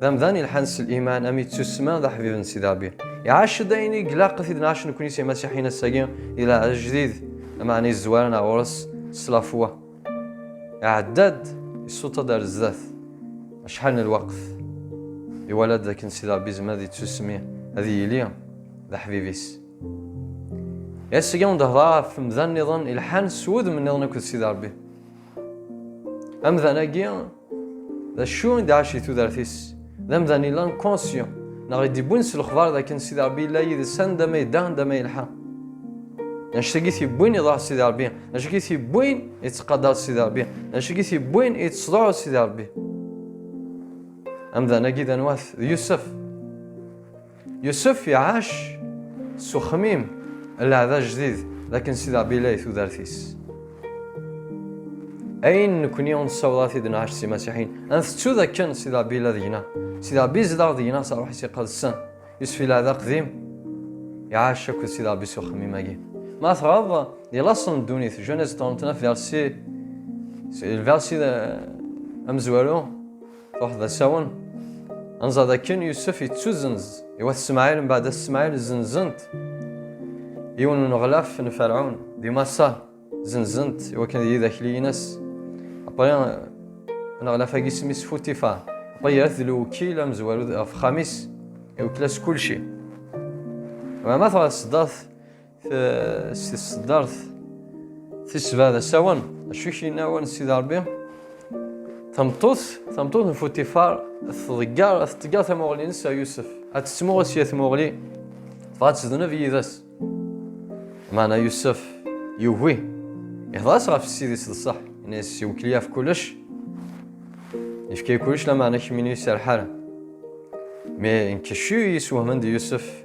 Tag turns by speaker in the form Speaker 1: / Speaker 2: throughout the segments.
Speaker 1: D amdan ilḥan s liman, am yettussma d aḥbib n Sidi Ṛebbi. Iɛac-d ayen i ilaq i t-id-nɛac nekkni s imasiḥiyen ass-agi, di leɛjdid, lmeɛna izezwaren ar ɣur-s s tlafwa. Iɛedda-d, issuṭ-d ar zdat acḥal n lweqt, iwala-d dakken Sidi Ṛebbi izmer ad ittussmi, ad yili d aḥbib-is. I ass-agi awen-d-hedṛeɣ ɣef umdan-nniḍen ilḥan s wudem-nniḍen akked Sidi Ṛebbi. Amdan agi, d acu i d-ɛac i tudert-is? D amdan ilan conscient, neɣ i d-ibbun s lexbar d akken Sidi Rebbi yella yid-s anda ma yedda, anda ma yelḥa. D acu i t-ibbwin iḍaḥ Sidi Rebbi? D acu i t-ibbwin ittqadar Sidi Rebbi? D acu i t-ibbwin ittḍuɛu Sidi Rebbi? Amdan agi d anwa-t? D Yusef. Yusef iɛac s uxmim n leɛda jdid d akken Sidi Ṛebbi yella di tudert-is. Ayen nekkni ur nessaweḍ ara t-id-nɛac s imasiḥiyen, ad ntettu d akken Sidi Ṛebbi yella deg-neɣ. Sidi Ṛebbi yezdeɣ deg-neɣ s ṛṛuḥ-is iqedsen. Yusef yella d aqdim, iɛac akked Sidi Ṛebbi s uxmim-agi. Ma tɣaḍ, di laṣel n ddunit, Genèse 39 verset, c'est le verset amezwaru, Ruḥ d asawen. Anẓad akken Yusef yettuzenz i wat Smaɛil mbaɛd as Smaɛil zenzent yiwen n uneɣlaf n Ferɛun di Maṣer zenzent i wakken d yidakliyen-as. Apre aneɣlaf-agi isem-is Futifa. Apre yerra-t d lewkil amezwaru ɣef xxam-is iwekkel-as kulci. Mama tɣeṣṣdeɣ-t si tseddart tisba d asawen acu kina wan sidi rebbi tameṭṭut tameṭṭut n futifar tḍeggar teḍeggar tamuɣli-nnes ar yusef ad tettmuɣel sya tmuɣli tebɣa ad tezdeneb yid-s maɛna yusef yugi ihḍer-as ɣef ssid-is d ṣṣeḥ yenna-as iwekli ɣef kullec yefka-yi kullec lameɛna kemmini ur iserreḥ ara mais nkeccu yeswehmend yusef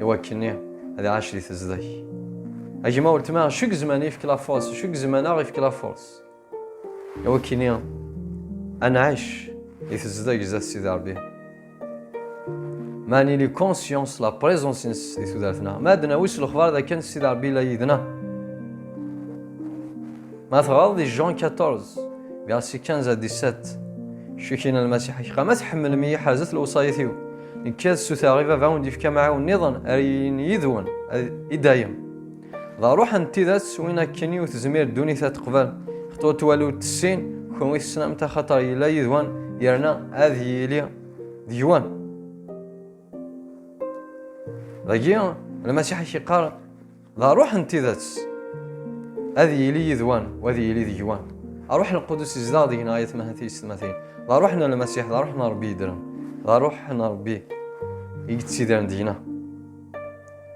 Speaker 1: iwakken ad iɛac di tezdek a gma weltma acu gezman ifk la force acu gezman aɣ ifk la force iwakken ad nɛac di tezdek zdat Sidi Rebbi ma nili conscience la présence-nnes di tudert-nneɣ ma ad nawi s lexbar d akken Sidi Rebbi la yid-nneɣ ma teɣreḍ di Jean 14 verset 15 à 17 Cukina lmasiḥ ak qa ma tḥemmlem-iyi ḥerzet lewṣayat-iw Nekka ad suteɣ i baba ur d-yefka amɛiwen nniḍen ar yiyin yid-wen i dayem. D aruḥ n tidet win akken i tezmir ddunit ad teqbel. Xeṭwa twal ur tessin, kenwi tesnamt axaṭer yella yid-wen yerna ad yili deg-wen. Dagi, Lmasiḥ ak iqqar, D aruḥ n tidet. Ad yili yid-wen, u ad yili deg-wen. Aruḥ n Lqudus izdeɣ deg-neɣ ay atmaten d teysetmatin. D aruḥ n Lmasiḥ, d aruḥ n Rebbi yeddren. D aruḥ n Rebbi i yettidiren deg-neɣ.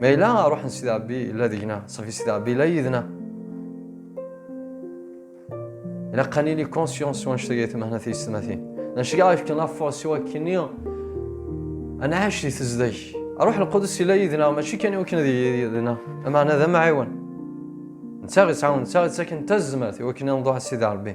Speaker 1: Ma yella aruḥ n Sidi Rebbi yella deg-neɣ, sɣef Sidi Rebbi yella yid-neɣ. Ilaq ad nili conscient s wanect ay temehna tiyessetmatin. Nacga ifkan affaɣ s wakken-nni ad nɛac di tezdeg. Ruḥ Lqudus yella yid-neɣ mačči kan i wakken ad yili yid-neɣ, lameɛna d amɛiwen. Netta ittɛawen, netta ittaken tazmert i wakken ad nḍuɛ Sidi Ṛebbi.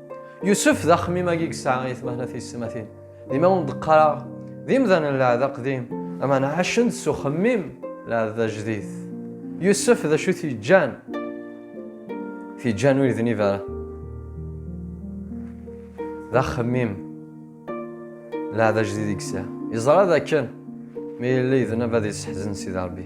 Speaker 1: Yusef d axemmim-agi yesɛa i tmehla tiyesmatin. Dima ur d-qqareɣ d imdanen n lɛahd aqdim, aman ɛacen-d s uxemmim lɛahd ajdid. Yusef d acu t-yeǧǧan? T-yeǧǧan ur idnib ara. D axemmim lɛahd ajdid i yesɛa. Yeẓra d akken mi yella idnab ad yesseḥzen Sidi Rebbi.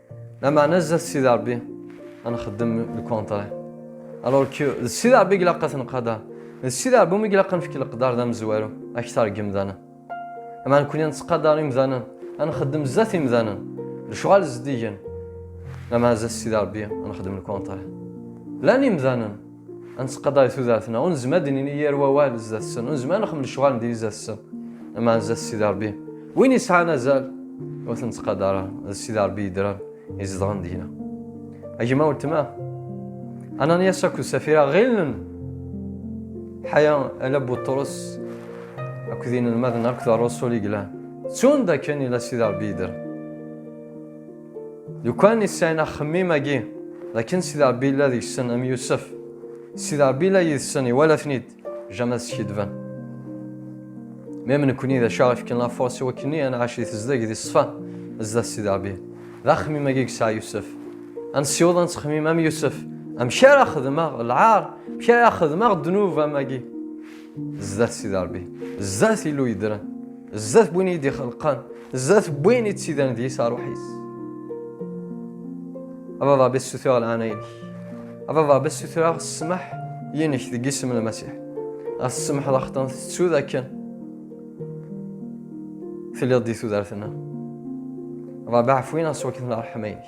Speaker 1: Lameɛna zdat Sidi Ṛebbi ad nxeddem lkontray. Alors que d Sidi Ṛebbi i ilaq ad tenqader. D Sidi Ṛebbi umi ilaq ad nefk leqder d amezwaru aktar deg yimdanen. Lameɛna nekkni ad nettqadar imdanen, ad nxeddem zdat imdanen, lecɣal zeddigen. Lameɛna zdat Sidi Ṛebbi ad nxeddem lkontray. Llan imdanen. ad nettqadar i tudert-nneɣ, ur nezmer ad d-nini yir wawal zdat-sen, ur nezmer ad nexmel lecɣal n diri zdat-sen, ama zdat Sidi Rebbi. Win yesɛan azal, ur ten-ttqadar ara, d Sidi Rebbi yedran, izedɣen deg-na. A gma weltma, Ananias akked Safira ɣilen ḥaya ala Buṭrus akked inelmaden akked rrusul i yellan, ttun d akken yella Sidi Rebbi yedran. Lukan i sɛin axemmim-agi d akken Sidi Rebbi yella deg-sen am Yusef, Sidi Rebbi yella yid-sen iwala-ten-id, jama skidben. Mem nekkni d acu aɣ ifken lafurṣ i wakken-nni ad nɛac di tezdeg di ṣṣfa zdat Sidi Rebbi. D axemmim-agi i yesɛa Yusef. Ad nessiweḍ ad nettxemmim am Yusef, amek ara xedmeɣ lɛar, amek ara xedmeɣ ddnub am agi. zdat sidi rebbi zdat illu yedran zdat win i d-ixelqan zdat win i d-sidran d yis aruḥ-is ababa bes sutreɣ lɛana-inek ababa bes sutreɣ ssmaḥ yinek deg isem n lmasiḥ ɣas tsemḥeḍ axeṭṭan tettu dakken telliḍ di tudert-nneɣ ṛabaɛ fwin-aɣ s wakken ṛḥma-inek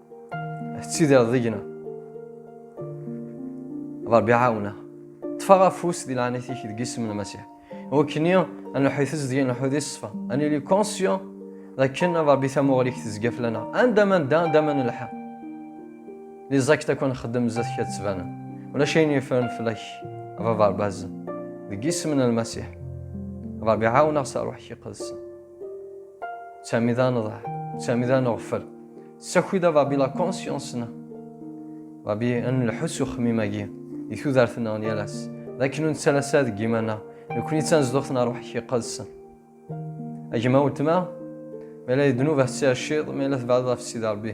Speaker 1: tettidireḍ deg-neɣ ṛebbi ɛawneɣ ṭṭfeɣ afus di leɛnayt-ik deg isem n Masiḥ wakk-nni ad nuḥi tizdgi nuḥi di ṣṣfa ad nili conscient dakken ad ṛebbi tamuɣli-k tezga fell-aneɣ anda ma nedda anda ma nelḥa li ẓakit akk nxeddem zdat-k ad ttbanen ulac ayen yeffren fell-ak baba ṛbazen deg isem n Lmasiḥ ṛebbi ɛawneɣ s ṛuḥ-ik iqedsen Sami d aneḍah, Sami d aneɣfel. Ssaki-d a Babi la conscience-nneɣ. Babi ad nelḥu s uxemmim-agi di tudert-nneɣ n yal ass, d akken ur nettalas ara deg yiman-nneɣ, nekkni d tanezduɣt n rruḥ-ik iqedsen. A gma weltma, ma yella d ddnub ad tettiɛciḍ, ma yella tebɛdeḍ ɣef Sidi Rebbi.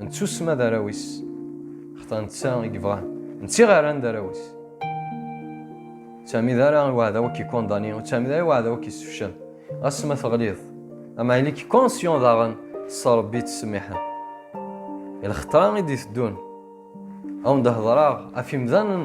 Speaker 1: Nettusma d arraw-is, xta netta i yebɣa, netta iɣaran d arraw-is. Sami d ara i waɛdaw ad k-ikondani, u Sami d ara i waɛdaw ad k-yessefcel. Ɣas ma teɣliḍ, ama ili-k konsyon daɣen s Rebbi yettsemmiḥen. I lxeṭra i d-iteddun, ad wen-d-hedreɣ ɣef imdanen